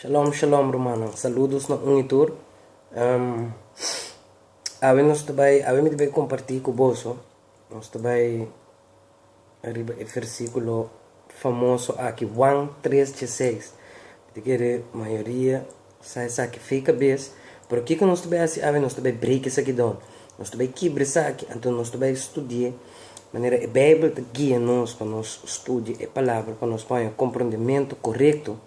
Shalom shalom rumannan saludos na un y tur awe nos ta bay awe mi ta bay comparti cu boso nos ta bay riba e versiculo famoso aki Juan tres dje seis mi ta kere mayoria sa esaki fey cabes pero kico nos ta bay haci awe nos ta bay break esaki don Nos ta bai kibra esaki, anto nos ta bai studi'é manera e Beibel ta guia nos pa nos studia e Palabra pa nos paña komprondementu korekto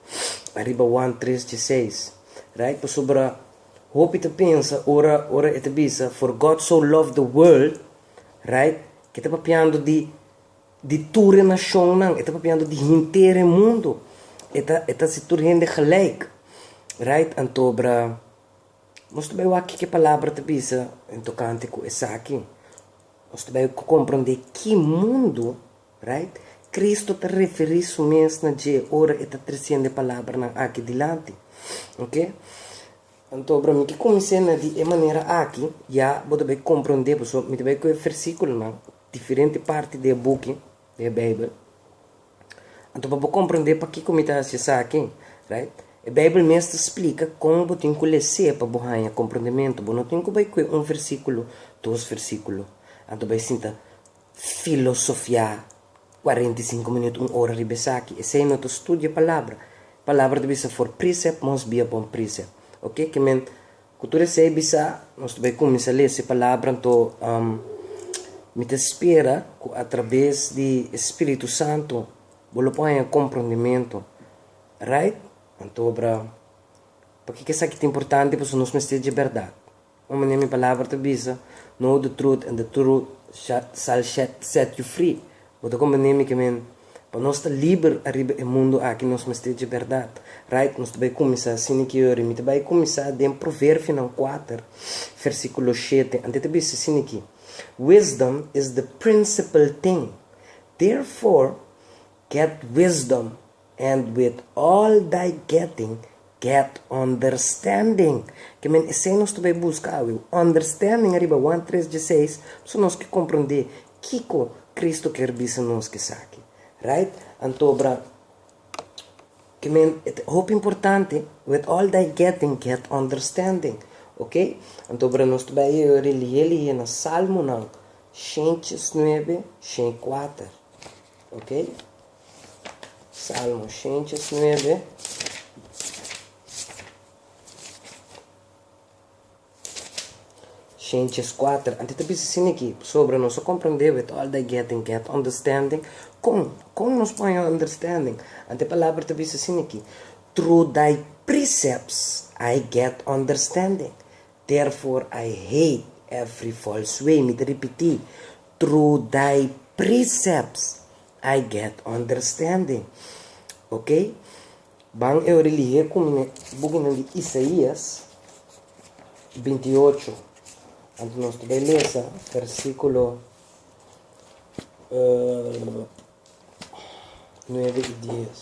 ariba Juan tres dje seis, right? Pasobra hopi ta pensa ora ora e ta bisa for God so loved the world, right? Ke ta papiando di di tur e nashonnan, e ta papiando di henter e mundu, e ta e ta hasi tur hende gelijk, right? Antobra. Nos ta bai wak kiko e Palabra ta bisa den tokante ku esaki. Nos ta bai komprondé ki mundu, right, Kristu ta referí su mes na dje ora e ta tresiende e palabranan akí dilanti. Oke? Anto, bro, mi ke kumins'é na di e manera akí, ya bo ta bai komprondé. Pasobra mi ta bai kohe versíkulonan, diferente parti di e buki, di e Beibel. Anto pa bo komprendé pakiko mi ta hasi esaki, right? E Beibel mes ta splika kon bo tin ku les'é pa bo haña komprendementu. Bo no tin ku bai kue un versíkulo, dos versíkulo, anto bai sinta filosofiá kuarenta i sinku minüt, un ora riba esaki. Esei no ta studia Palabra. Palabra ta bisa for precept must be upon precept. Oke ke men Ku tur esei bisa, nos ta bai kuminsá lese palabra. Anto, mi ta spera ku atrabes di e Spiritu Santu bo lo por haña komprondementu. Right? Antobra, pakiko esaki ta importante? Pasobra nos mester dje bèrdat. Un manera mi palabra ta bisa, Know the truth, and the truth shall set you free. Bo ta komprendé mi ke men? Pa nos ta liber ariba e mundu aki nos mester dje bèrdat. Right, nos ta bai kuminsá sini ke yori. Mi ta bai kuminsá den Proverfinan kuater, versíkulo shete. Ante ta bisa sini ki, Wisdom is the principal thing, therefore get wisdom, And with all thy getting, get understanding. Ke men esei nos ta bai buska awe, understanding ariba Juan tres dieseis, pasobra nos ke komprendé kiko Kristu kier bisa nos ku esaki. Right? Antobra, ke men e ta hopi importante, with all thy getting, get understanding. Ok? Antobra nos ta bai relié lihé na Salmonan, shen chies nuebe, shen kuater. Ok? Salmo shinches nuebe. Shinches kuater. Anto e ta bisa sin aki, pasobra nos a komprendé, with all thy getting get understanding. Kon? Kon nos pone understanding? Anto e palabra ta bisa sin aki, through thy precepts I get understanding. Therefore I hate every false way, mi ta ripití, through thy precepts I get understanding. Ok, ban e ora lihe ku mi bukinan di Isaías binti i ocho, anto nos ta bai lesa versíkulo nuebe i dies.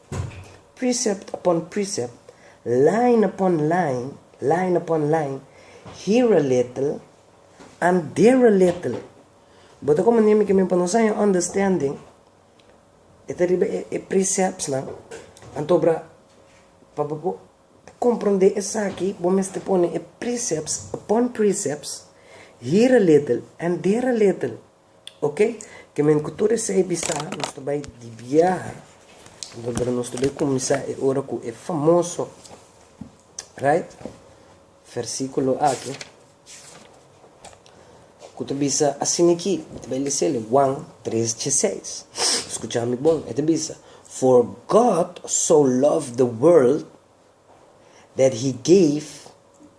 Precept upon precept, line upon line, line upon line, here a little and there a little. Bo ta komo Nimi Kimi, pa nos haña un understanding, e ta riba e preceptsnan, anto bra, pa bo por komprondé esaki, bo mester pone e precepts upon precepts, here a little and there a little. Oke ke men ku tur esei bisa nos ta bai di biaha dor nos ta bai kuminsá e ora ku e famoso right versíkulo aki ku ta bisa asin'iki, mi ta bai lese'l Juan tres dje seis. Skucha mi bon, e ta bisa, For God so loved the world that he gave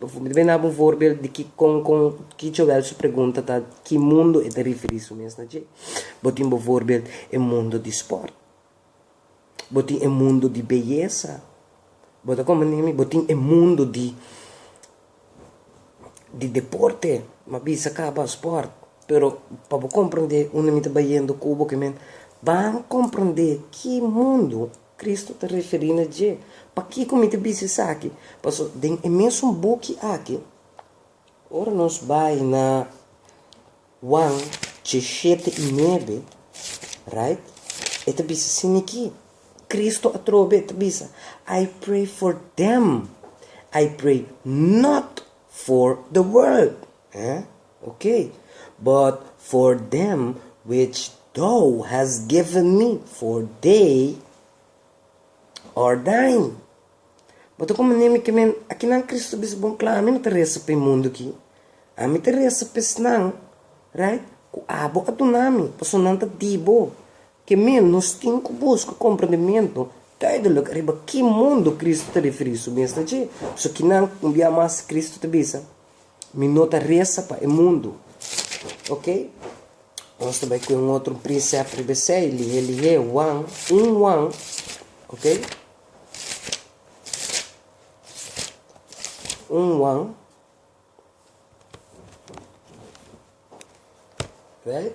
Bo ta duna un voorbeeld di kikon kon ki Joel su pregunta ta ki mundu e ta riferí su mes na dje. Bo tin bo voorbeeld e mundu di sport. Bo tin e mundu di beyesa. Bo ta komprende mi? Bo tin e mundu di di deporte, bo a bisa kaba sport, pero pa bo komprende unda mi ta bayendo ku bo kimen, ban komprende ki mundu Kristu ta referí na dje. Pakiko mi ta bisa esaki? Pasobra den e mesun buki aki, ora nos bai na Wan djeshete i nuebe, raight, e ta bisa sin nikí. Kristu atrobe ta bisa, I pray for them, I pray not for the world. Ok, but for them which Thou has given me, for they are Thine. Bo ta komo Nemi ke men, a kinan Kristu bisa bon kla, Ami no ta resa pa e mundu aki, Ami ta resa pa esnan, right, ku Abo a duna Mi, pasobra nan ta di Bo. Ke men, nos tin ku buska komprondementu duidelik riba ki mundu Kristu ta referí su mes na dje. So kinan un bia mas Kristu ta bisa, Mi no ta resa pa e mundu, ok. Nos ta bai cu un otro prinsep riba esey, lihe lihe, wan, un wan, ok. Un wan, right.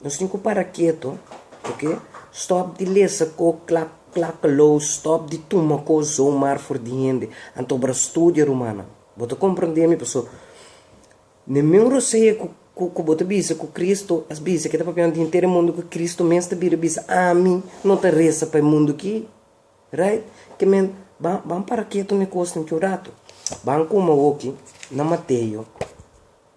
Nos tin ku para ketu, ok, stòp di lesa ko klak klak lou, stòp di tuma kos zomar for di hende, anto obra studia rumannan. Bo ta komprondé mi? Paso, Ningún rosea ku ku bo ta bisa ku Kristu a bisa ke ta papia un dia henter e mundu ku Kristu mes ta bira bisa, ami no ta resa pa e mundu ki, right? Ke men, ban ban para ketu na e kosnan ki un ratu. Ban kuma awoki na Mateo.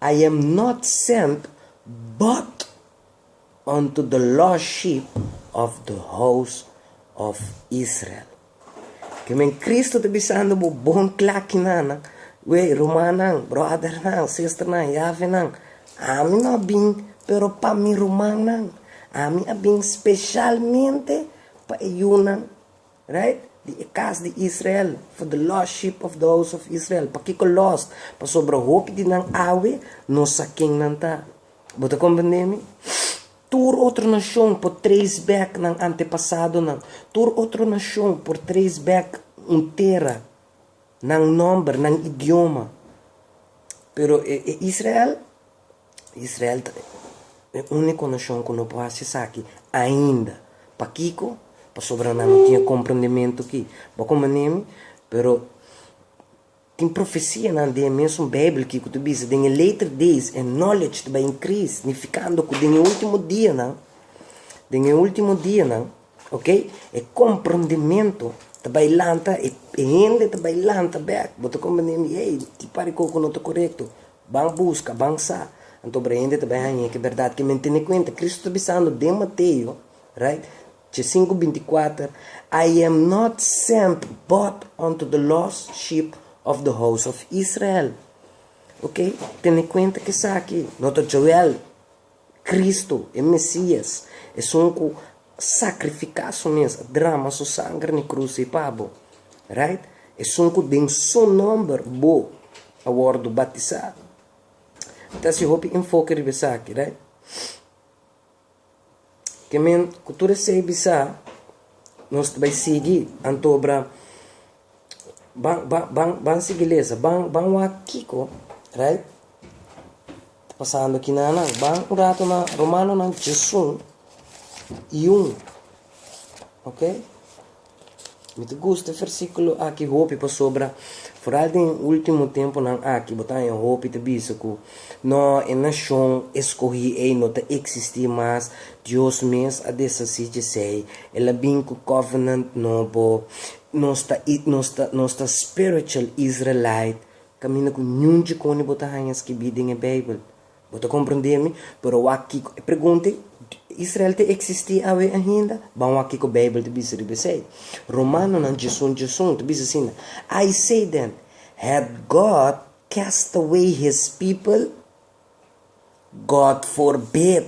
I am not sent but unto the lost sheep of the house of Israel. Ki men Kristu ta bisando bo bon klakinanan, wey, rumannan, bròdernan, sisternan, yavenan, ami no a bin pero pa mi rumannan, ami a bin speshalmente pa e yunan Right? Di e kas di Israel, for the lost sheep of the house of Israel. Pakiko lost? Pasobra hopi di nan awe no sa ken nan ta. Bo ta komprende mi? Tur otro nashon por trace back nan antepasadonan. Tur otro nashon por trace back un tera, nan nòmber, nan idioma. Pero e Israel? Israel ta e úniko nashon ku no por hasi esaki ainda. Pakiko? Pasobra nan no tin e komprendementu ki. Bo a komoné mi? Pero tin profesianan den e mesun Beibel ki ku ta bisa, Den e later days e knowledge ta bai inkris, signifikando ku den e último dianan, den e último dianan, oke, e komprendementu ta bai lanta, e hende ta bai lanta bèk. Bo ta komprendé mi? Ey, tin pareko ku no ta korekto. Ban buska, ban sa. Anto obra hende ta bai hañ'é ke bèrdat ke men tene kuenta. Kristu ta bisando den Mateo, right, ce sinku binti kuater, I am not sent but unto the lost sheep of the house of Israel. Oke, tene kuenta kesaki. No ta Joel. Cristo, e Mesias, esun cu sacrifica su mes, a drama su sanger n'e cruci pa bo. Right? Esun cu den su nomber bo a wordo batisa. Mi ta haci hopi enfoke riba esaki, right? Ke men cu tur esey bisa, nos ta bay sigui, anto obra. Ban sigui lesa, ban wak kiko ta pasando aki na nan. Ban un rato na Romanonan chazon i un, ok. Mi ta gusta e versiculo aki hopi pasobra foral den e ultimo temponan aki bo ta haña hopi ta bisa cu no, e nacion escogi ei no ta existi mas, Dios mes a deshaci dje esei, el a bin cu covenant nobo, Nos ta nos ta nos ta spiritual Israelite caminda cu niun djicone bo ta hanja skibi den e bijbel. Bo ta comprende mi? Pero wak kico e pregunta Israel ta existi awe ainda? Ban wak kico bijbel ta bisa riba esey. Romanonan djesun djesun ta bisa asina, I say then, hath God cast away his people? God forbid!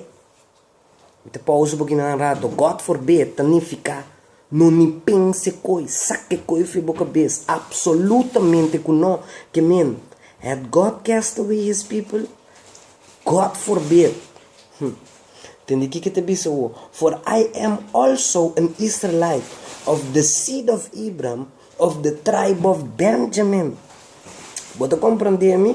Mi ta pausa bo kina un rato. God forbid ta nifiká no ni pensa e koi, saka e koi fri bo kabes. Apsolutamente ku no. Ke min, Had God cast away His people? God forbid! Hm. Tende kiko e ta bisa awor, For I am also an Israelite, of the seed of Abraham, of the tribe of Benjamin. Bo ta komprendé mi?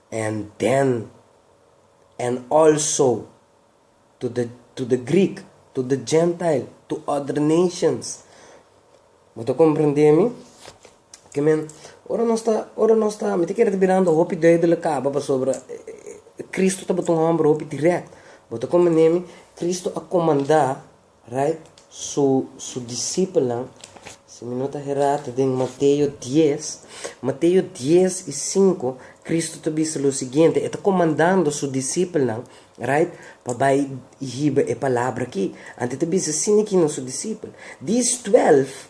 And then, and also, to the, to the Greek, to the Gentile, to other nations. Bo ta komprendé mi? Ke men, ora nos ta, ora nos ta, mi ta kere ta birando hopi duibelik kaba pasobra Kristu tabata un hòmber hopi dirèkt. Bo ta komprendé mi? Kristu a komandá. Right, so su disipelnan, si mi no ta herá ta den Mateo dies, Mateo dies i sinku, Kristu ta bisa lo siguiente, e ta komandando su disipelnan, right, pa bai i hiba e palabra akí. Anto e ta bisa, Sina ki no su disipel. Dis twèlf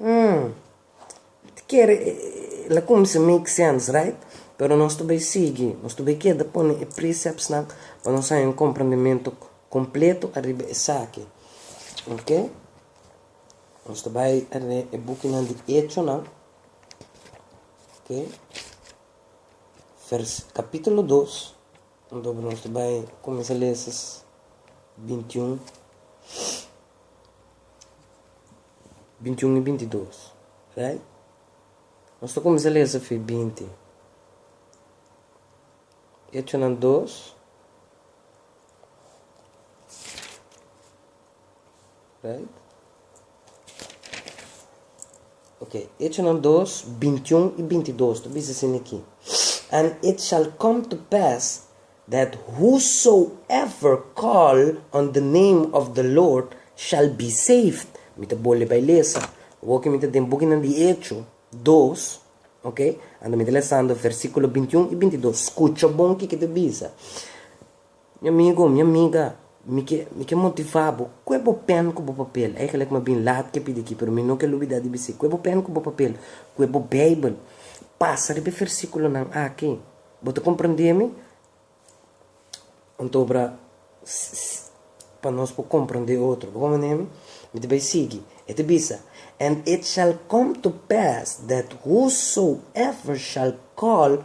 Umm. Ta kere e la kumsa make sense right? Pero nos ta bai sigui, nos ta bai keda pone e preceptsnan pa nos haña un komprendementu kompletu ariba esaki, ok. Nos ta bai a lee e bukinan di Hechonan, ok, vers, capítulo dos. Anto nos ta bai kuminsá lesa bintiun, bintiun i bintidos, right? Nos ta kuminsá lesa fi binti. Echonan dos. Right. Ok, Echonan dos, bintiun i bintidos ta bisa asin aki, And it shall come to pass, that whosoever call on the name of the Lord shall be saved. Mi ta bole bai lesa, awor ke mi ta den bukinan di Echo dos, ok, ando mi ta lesando versikulo bintiun i bintidos, skucha bon kiko ta bisa. Mi amigu, mi amiga, mi ke mi ke motivá bo, kue bo pèn ku bo papel. Èigelik mi a bin lat ke pidi akí, pero mi no ke lubidá di bis'é, kue bo pèn ku bo papel, kue bo Beibel. Pasa riba e versíkulonan akí. Bo ta komprendé mi? Anto obra pa nos por komprendé otro. Bo komprendé mi? Mi ta bai sigui. E ta bisa, And it shall come to pass that whosoever shall call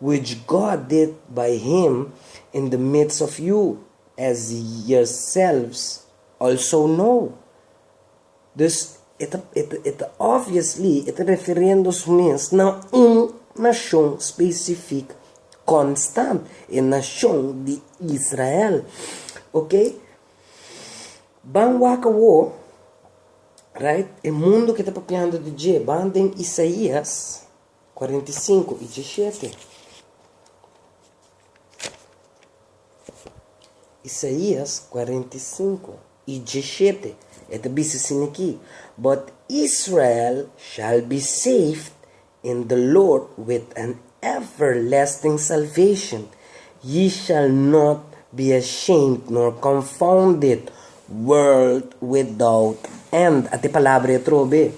Which God did by him in the midst of you, as yerselves also know. Dus e ta, e ta, e ta obviously e ta referendo's mes na un nashon specific constant, e nashon di Israel. Ok, ban waka wo, right, e mundo ke ta papiando di dje, ban den Isaías. Cuarenta y cinco y diecisiete. Isaías cuarenta y cinco y diecisiete e ta bisa sin aki, But Israel shall be saved in the Lord with an everlasting salvation, ye shall not be ashamed nor confounded world without end. Ate palabra e atrobe.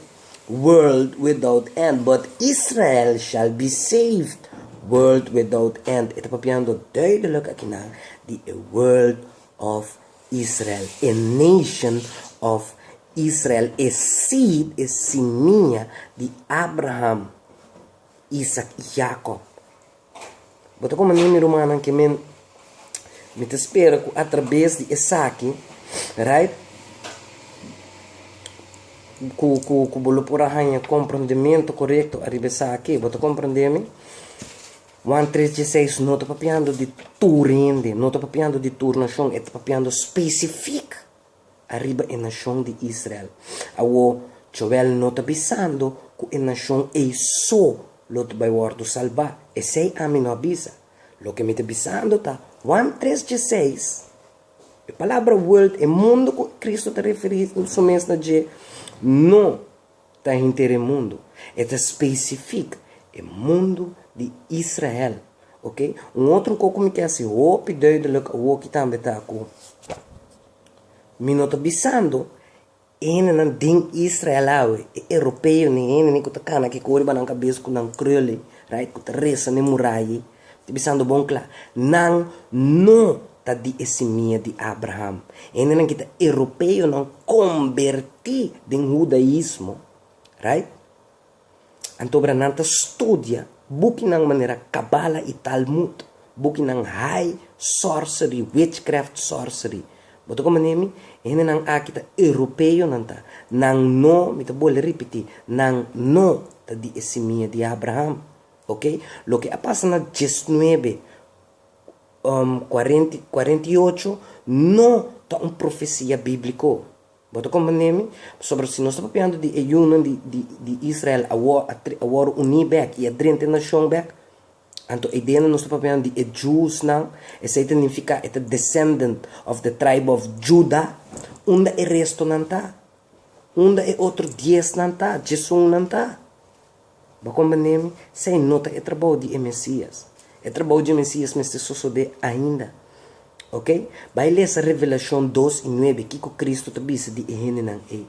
world without end, but Israel shall be saved, world without end. E ta papiando duidelik akinan di e world of Israel, e nation of Israel, e seed, e simia di Abraham, Isaac i Jacob. Bo ta koman'é, mi rumannan, ke mi mi ta spera ku atrabes di esaki, right, ku ku ku bo lo por a haña komprondementu korekto ariba esaki. Bo ta komprondé mi? Juan tres dieseis no ta papiando di tur hende, no ta papiando di tur nashon, e ta papiando spesifik. Ariba e nashon di Israel. Awor, Joel no ta bisando ku e nashon ei so lo ta bai wòrdu salbá. Esei ami no a bisa. Loke mi ta bisando ta, Juan tres dieseis, E palabra wurld, e mundu ku Kristu ta referí su mes na dje, no Ta henter e mundu, e ta specific e mundu di Israel, ok. Un otro co cu mi kier haci hopi duidelic awoki tambe ta cu mi no ta bisando e hendenan den Israel awe, e Europeo, ni e hendeni cu ta cana kico riba nan cabes cu nan kruley, right, cu ta resa na e muraya ei, Ta bisando bon cla, nan no ta di e simia di Abraham. Hendenan ki ta Europeonan comberti den Hudaismo, right? Antobra nan ta studia bukinan manera Kabbalah y Talmud, bukinan high sorcery, witchcraft sorcery. Bo ta comprende mi? E hendenan aki ta Europeonan ta. Nan no, mi ta bolbe ripiti, nan no ta di e simia di Abraham. Ok, loke a pasa na diesnuebe kuarenta kuarenta i ocho no ta un profesia bíbliko. Bo ta komprende mi? Pasobra si nos ta papiando di e yunan di Israel awor a wòrdu uní bèk i a drenta e nashon bèk, anto e ideanan nos ta papiando di e djusnan, esei ta nifiká e ta descendent of the tribe of Judah. Unda e restonan ta? Unda e otro diesnan ta, diesunnan ta? Bo a comprendé mi? S'ei no ta e trabou di e Mesias. E trabou di e Mesias mester sosodé ainda. Ok? Bai lesa Revelashon dos i nuebe kiko Kristu ta bisa di e hendenan ei.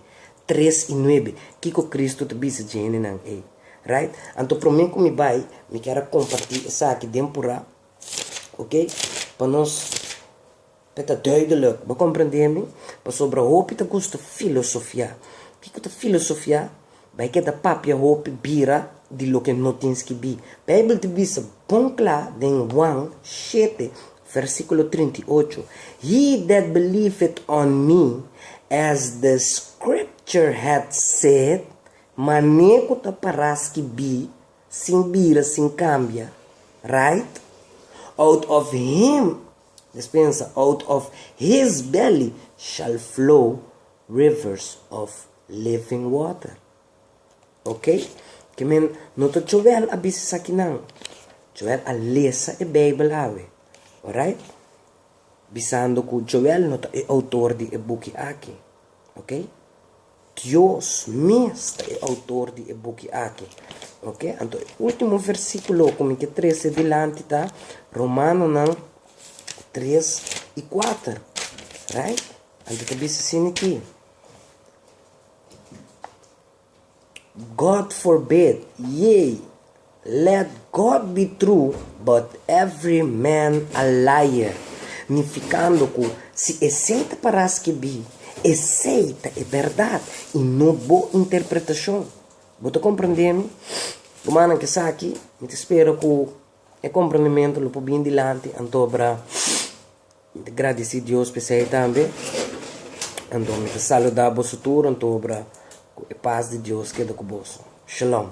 Tres i nuebe, kiko Kristu ta bisa dje hendenan ei. Right? Anto promé ku mi bai, mi kier a kompartí esaki den purá, ok, pa nos. E ta duidelijk, bo komprendé mi? Pasobra hopi ta gusta filosofiá. Kiko ta filosofiá? Bai keda papia hopi bira di loke no tin ski bi. Beibel ta bisa bon kla den Huan shete, versíkulo trinta i ocho, He that believeth on me, as the Scripture hath said, mané ku ta pará ski bi, sin bira, sin kambia. Right? Out of him Mes pensa, Out of his belly shall flow rivers of living water. Ok, ke men no ta Joel a bisa esakinan. Joel a lesa e Beibel awe. Orait? Bisando ku Joel no ta e outor di e buki aki. Ok. Dios mes ta e outor di e buki aki. Ok, anto e ultimo versíkulo ku mi ke trese dilanti ta Romanonan tres i kuater, right? Anto ta bisa sin aki, God forbid, yei! Let God be true but every man a liar, nificando cu si esey ta para skibi, esey ta e berdad y no bo interpretacion. Bo ta comprende mi? Rumannan ke esaki, mi ta spera cu e comprendimento lo por bin dilanti, antobra mi ta gradici Dios pa esey tambe. Anto mi ta saluda boso tur, antobra cu e paz di Dios keda cu boso. Shalom.